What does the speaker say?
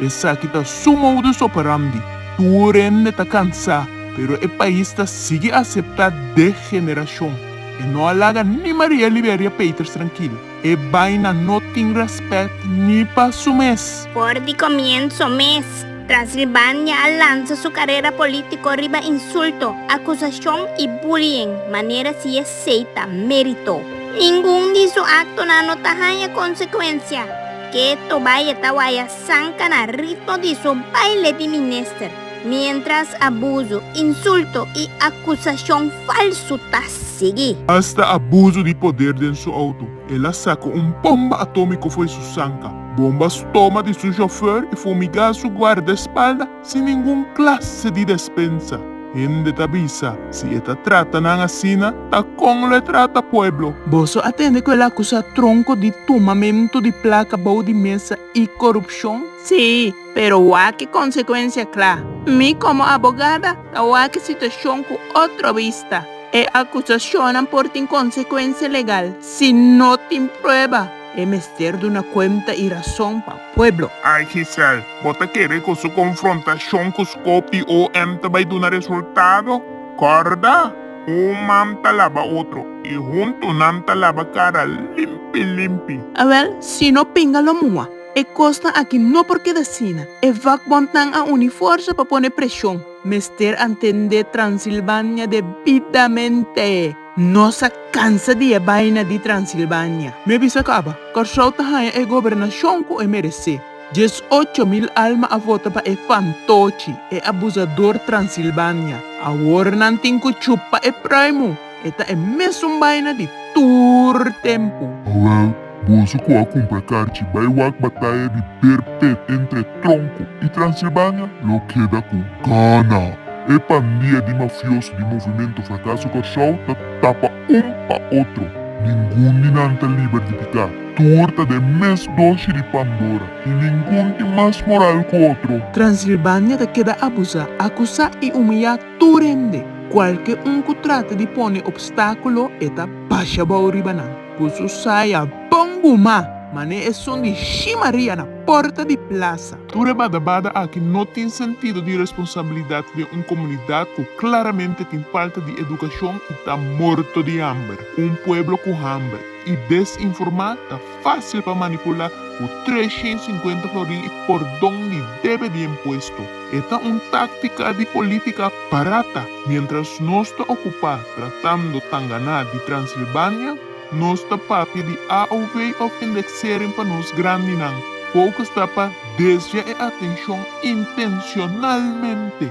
Esaki ta suma udo so pa Ramdi. Tur hende ta kansá, pero e pais ta sigui aseptá dé generashon. E no a laga ni Maria Liberia Peters trankil. E baina no tin rèspèt ni pa su mes. For di komienso mes, Transilbania a lansa su karera polítiko riba insulto, akusashon i bullying, manera si esei ta mérito. Ningun di su aktonan no ta haña konsekuensia. Ke tobaye ta waya sanka na ritmo di su baile di minister, mientras abuso, insulto y acusacion falso ta sigui. Hasta abuso di poder den su auto. El a saca un bomba atomico fo'i su sanka. Bombas toma di su chauffeur y fumiga su guardaespalda. sin ningun klase di despensa. Hende ta bisa, Si e ta trata nan asina, ta kon lo e trata pueblo? Boso a tende ku el akusá Tronko di tumamentu di plaka bou di mesa i korupshon? Sí, pero wak konsekuensia kla. Mi komo abogada ta wak e situashon ku otro bista. E akusashonnan por tin konsekuensia legal si no tin prueba. E mester duna cuenta y razon pa pueblo. Ay Gisèle, bo ta kere cu su confrontacion cu Scopi OM ta bay duna resultado? Corda! Un man ta laba otro y hunto nan ta laba cara limpi limpi. Awel, si no pinga lo mua. E cosnan aki no por keda asina. E vakbondnan a uni forza pa pone presion. Mester a ntende Transilvania debidamente. Nos a cansa di e baina di Transilvania. Mi a bisa caba, Curaçao ta haña e gobernacion cu e merece. Dies ocho mil alma a vota pa e fantochi, e abusador Transilvania. Awor nan tin cu chupa e pruimu. E ta e mesun baina di tur tempu. Owel, Boso cu a cumpra carchi bay wak bataya di per pet entre Tronco y Transilvania lo keda cu gana. E pandia di mafioso di Movimento Fracaso Corsou ta tapa un pa otro. Ningun di nan ta liber di pica. Tur ta den mes doshi di Pandora y ningun tin mas moral cu otro. Transilvania ta keda abusa, acusa y humilla tur hende. Cualke un cu trata di pone obstaculo e ta basha bao riba nan. Ku su saya bon guma. Man'é esun di shi Maria na porta di plasa. Tur e bada bada aki no tin sentido di responsabilidat den un komunidat ku klaramente tin falta di edukashon i ta morto di hamber. Un pueblo ku hamber i desinformá ta fásil pa manipulá ku treshiensinkuenta florin i pordon di debe di empuesto. E ta un táctica di política barata. Mientras nos ta ocupá tratando ta ganá di Transilvania, nos ta papia di AOV of indexering pa nos grandinan, focus ta pa desvia e atencion intencionalmente.